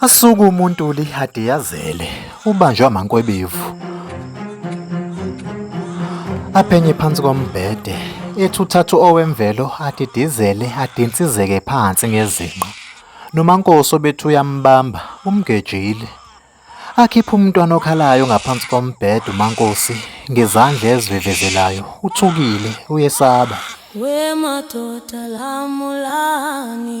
Asuke umuntu ulihade yazele ubanjwe amankwebevu. Aphenye phansi kombhede ethi uthathu owemvelo adidizele adinsizeke phansi ngezinqa. NoMankosi obethi uyambamba umgejile. Akhipha umntwana okhalayo ngaphansi kombhede uMankosi ngezandla ezivevezelayo uthukile uyesaba. We madoda lamulani.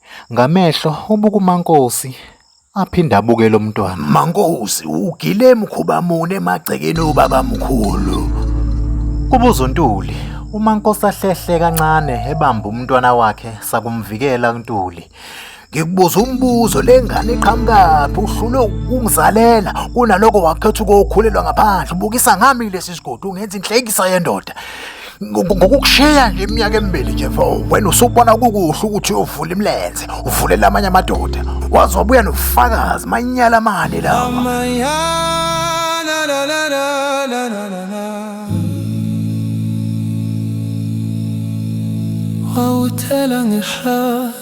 Ngamehlo ubuka uMankosi aphinde abuke lo mntwana. Mankosi ugile mkhuba mune emagcekeni obabamkhulu. Kubuza uNtuli. UMankosi ahlehle kancane ebamba umntwana wakhe sakumvikela uNtuli. Ngikubuza umbuzo le ngane iqhamukaphi uhlule ukungizalela kunaloko wakhetha ukuyokhulelwa ngaphandle ubukisa ngami lesi sigodi ungenza inhlekisa yendoda. ngokukushiya nje iminyaka emibili nje mfo wena usubona kukuhle ukuthi uyovula imilenze uvulela amanye amadoda wazobuya nobufakazi manyala amane lawa wawuthela ngehlazo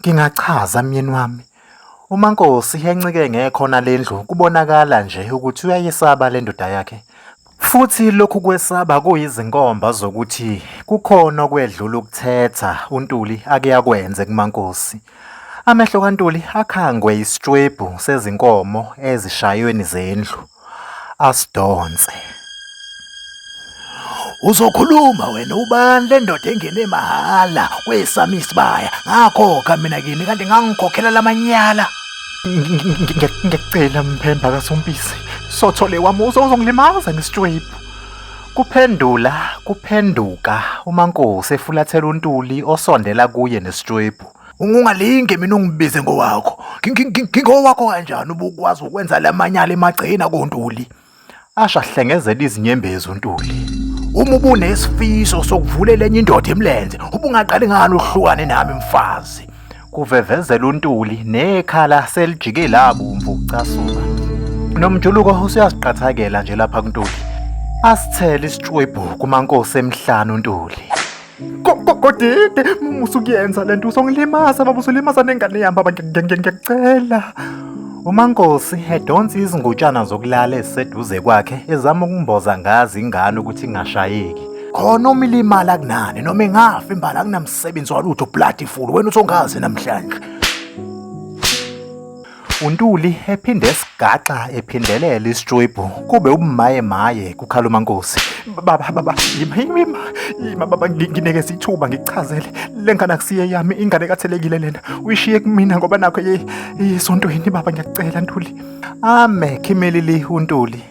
Ngingachaza myeni wami, uMaNkosi encike ngekhona lendlu kubonakala nje ukuthi uyayesaba lendoda yakhe, futhi lokhu kwesaba kuyizinkomba zokuthi kukhona okwedlula ukuthetha uNtuli ake akwenze kuMaNkosi. Amehlo kaNtuli akhangwe isitshwebhu sezinkomo ezishayweni zendlu. asidonse. Uzokhuluma wena ubani le ndoda engene mahhala kwesami isibaya ngakhokha mina kini kanti ngangikhokhela lamanyala. Ngiyacela mphemba kasompisi sothole wami uzongilimaza ngesitshwebhu. Kuphendula kuphenduka uMankosi efulathela uNtuli osondela kuye nesitshwebhu. ungalinge mina ungibize ngowakho ngingowakho kanjani ubukwazi ukwenza lamanyala emagcina kontuli asha hlengezela izinyembezi untuli uma ubunesifiso sokuvulela enye indoda emlenze ubungaqali ngani uhlukane nami mfazi kuvevezela untuli nekhala selijike labomvu ukucasuka nomjuluko usuyaziqathakela nje lapha kuntuli asithele isitshwebhu kumankosi emhlanu untuli kodide musukuyenza le nto usongilimaza baba usulimaza nengane yami baba ngiyakucela umankosi edonsa izingutshana zokulala eziseduze kwakhe ezama ukumboza ngazi ingane ukuthi ingashayeki khona uma ilimala kunani noma ingafi imbala kunamsebenzi walutho bloody full wena usongazi namhlanje UNtuli ephinde esigaxa ephindelela isitribhu kube ubumaye maye kukhala uMankosi. Baba baba yima yima yima baba ngineke sithuba ngikuchazele le ngane akusiye yami ingane kathelekile lena uyishiye kumina ngoba nakho yesontweni baba ngiyakucela Ntuli. Ame khimilili uNtuli.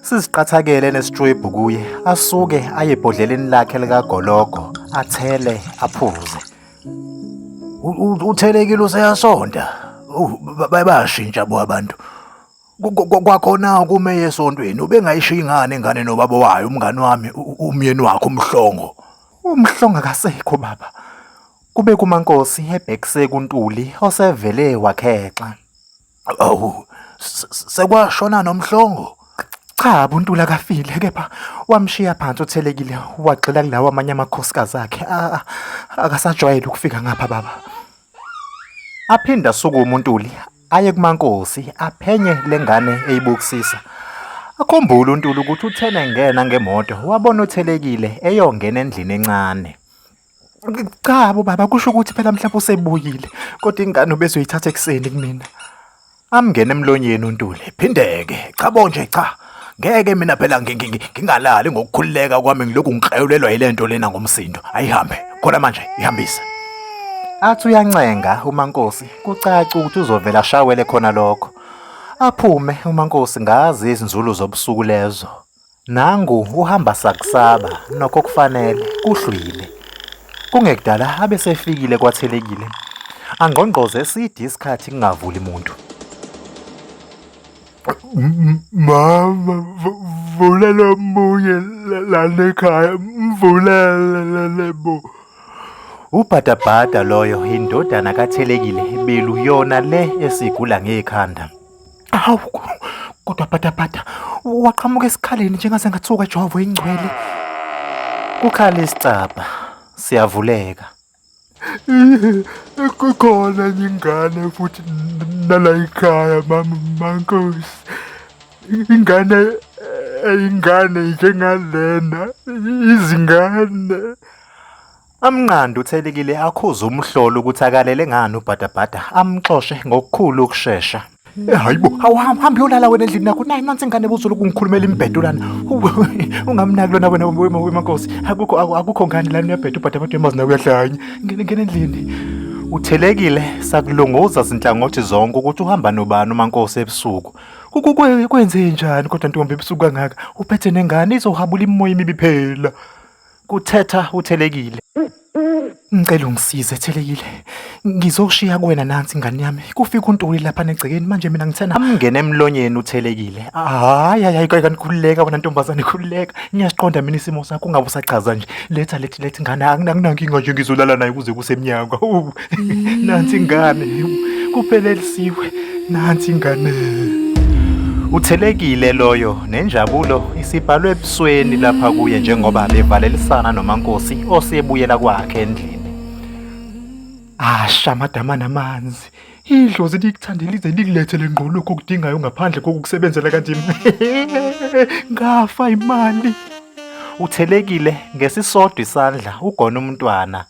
Siziqathakele nesitribhu kuye asuke aye ebhodleleni lakhe likagologo athele aphuze. uthelekile useyasonda bayashintsha bo abantu kwakhona ukume yesontweni ubengayishiya ingane ingane nobaba wayo umngane wami umyeni wakhe umhlongo umhlongo akasekho baba kube kumankosi ebhekise kuntuli osevele wakhexa Awu, se- se- sekwashona nomhlongo? Cha buntula kafile kepha wamshiya phansi othelekile wagxila kulawo amanye amakhosikazi akhe A- a- akasajwayele ukufika ngapha baba aphinde asuke umuntuli aye kumankosi aphenye lengane eyibukisisa akhumbule untuli ukuthi uthena engena ngemoto wabona othelekile eyongena endlini encane cha bo baba kusho ukuthi phela mhlawumbe usebuyile kodwa ingane ubezoyithatha ekuseni kumina amngene emlonyeni untuli phindeke cha bo nje cha ngeke mina phela ngingalali ngokukhululeka kwami ngilokhu ngikrayulelwa yile nto lena ngomsindo ayihambe khona manje ihambise athi uyancenga umankosi kucaca ukuthi uzovela ashawele khona lokho aphume umankosi ngazi izinzulu zobusuku lezo Nangu uhamba sakusaba nokho kufanele kuhlwile. Kungekudala abe sefikile kwathelekile. Angqongqoze eside isikhathi kungavuli muntu. Mama vulela omunye lana ekhaya mvulele bo. Ubhadabhada loyo indodana kathelekile belu yona le esigula ngekhanda. Awu kodwa bhatabhata waqhamuka esikhaleni njengasengathuka ejwavu ingcwele. Kukhala isicabha siyavuleka. Kukhona enye ingane futhi nala ikhaya mama mankosi. Ingane eyingane njengalena izingane. Amnqande uThelikile akhuze umhlolo ukuthi akalele ngani ubhadabhada amxoshe ngokukhulu ukushesha. Eh, hayibo awuhambi yolala wena endlini nakho nayi nansi ingane buzulu kungikhulumela imbhedo lana ungamnaki lona wena wemankosi akukho akukho ngani lana uyabheda ubhada abantu yamazi nawe uyahlanya ngene ngene endlini uthelekile sakulunguza zinhlangothi zonke ukuthi uhamba nobani umankosi ebusuku kwenze njani kodwa ntombi ebusuku kangaka uphethe nengane izohabula imimoya imibi phela kuthetha uThelekile. Ngicela ungisize Thelekile. Ngizoshiya kuwena nansi ingane yami. Kufika uNtuli lapha negcekeni manje mina ngithena amngene emlonyeni uThelekile. Hayi hayi kayikani khululeka wena ntombazane khululeka. Ngiyasiqonda mina isimo sakho ungabe usachaza nje. Letha lethi lethi ngane anginankinga nje ngizolala naye kuze kusemnyaka. nansi ingane kuphelelisiwe nansi ingane Uthelekile loyo nenjabulo isibhalwe ebusweni lapha kuye njengoba bevalelisana noMankosi osebuyela kwakhe endlini. Asha madama namanzi. Idlozi likuthandela lize likulethele ngqo lokho okudingayo ngaphandle kokukusebenzela kanzima. Ngafa imali. Uthelekile ngesisodwa isandla ugona umntwana